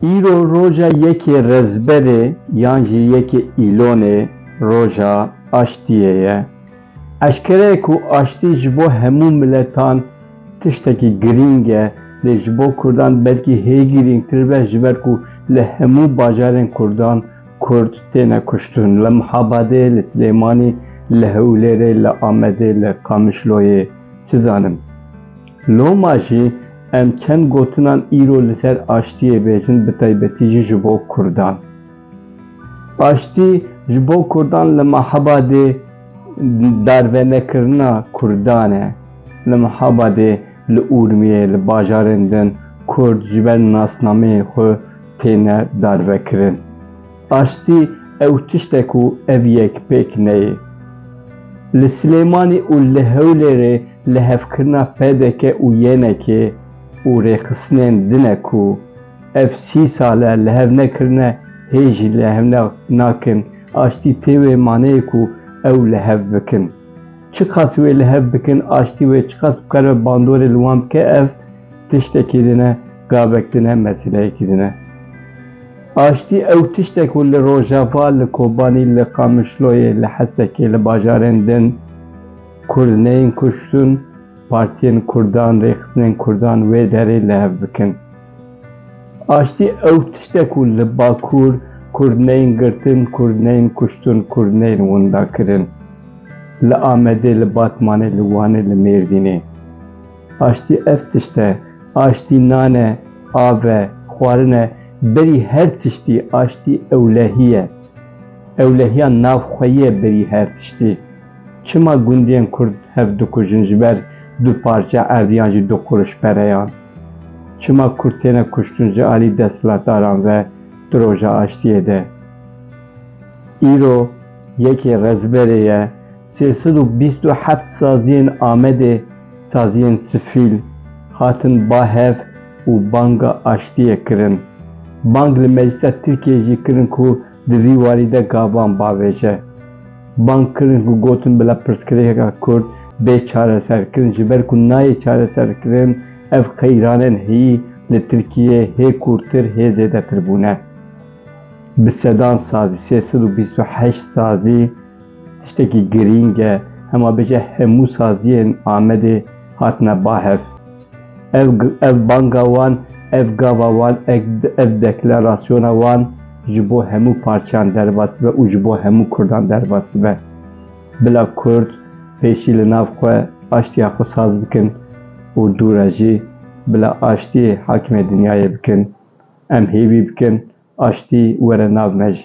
Îro roja yekê Rezberê yan jî yekê Îlonê roja aştiyê ye. Eşkere ye ku aştî ji bo hemû miletan tiştekî girîng e lê ji bo Kurdan belkî hê girîngtir be ji ber ku li hemû bajarên Kurdan Kurd têne kuştin li Mihabadê, li Silêmanî, li Hewlêrê, li Amedê, li Qamişloyê çi zanim. Loma jî em çend gotinan îro li ser aştiyê bêjin bi taybetî jî ji bo kurdan. Aştî ji bo kurdan li Mihabadê darvenekirina kurdan e. Li Mihabadê, li Urmiyê, li bajarên din kurd ji ber nasnameyên xwe têne darvekirin. Aştî ew tişte ku ev yek pêk neyê. Li Silêmanî û li Hewlêrê lihevkirina pdk û YNK'ê û rêxistinên din e ku ev sî sal e lihev nekirine hê jî lihev nakin, aştî tê wê maneyê ku ew lihev bikin. Çiqas wê lihev bikin aştî wê çiqas bikare bandorê li wan bike ev tiştekî din e. Gavek din e, meseleyekî din e. Aştî ew tişt e ku li Rojava, li Kobanî, li Qamişloyê, li Hesekê, li bajarên din Kurd neyên kuştin, partiyên Kurdan, rêxistinên Kurdan wê derê li hev bikin. Aştî ew tişt e ku li Bakur Kurd neyên girtin, Kurd neyên kuştin, Kurd neyên windakirin. Li Amedê, li Batmanê, li Wanê, li Mêrdînê. Aştî ev tişt e. Aştî nan e, av e, xwarin e, berî her tiştî aştî ewlehî ye. Ewlehiya navxweyî ye berî her tiştî. Çima gundiyên kurd hev dikujin ji ber du parçe erd yan jî du qurûş pereyan? Çima kurd têne kuştin ji alî desthilatdaran ve di roja aştiyê de? Îro yekê Rezberê ye sê sed û bîst û heft saziyên Amedê saziyên sifîl hatin ba hev û banga aştiyê kirin. Bang li Meclisa Tirkiyeyê jî kirin ku di vî warî de gavan bavêje. Bang kirin ku gotin bila pirsgirêkeka Kurd bê çareserkirin ji ber ku nayê çareserkirin, ev qeyranên heyî li Tirkiyeyê hê kûrtir hê zêdetir bûne. Bi sedan sazî, sê sed û bîst û heşt sazî, Tiştekî girîng e, hema bêje hemû saziyên Amedê hatine bahev. Ev ev banga wan, ev gava wan, ev deklerasiyona wan ji bo hemû parçeyan derbas dibe û ji bo hemû kurdan derbas dibe. Bila kurd pêşî li nav xwe aştiya xwe saz bikin û dû re jî bila aştiyê hakimê dinyayê bikin. Em hêvî bikin aştî were nav me jî.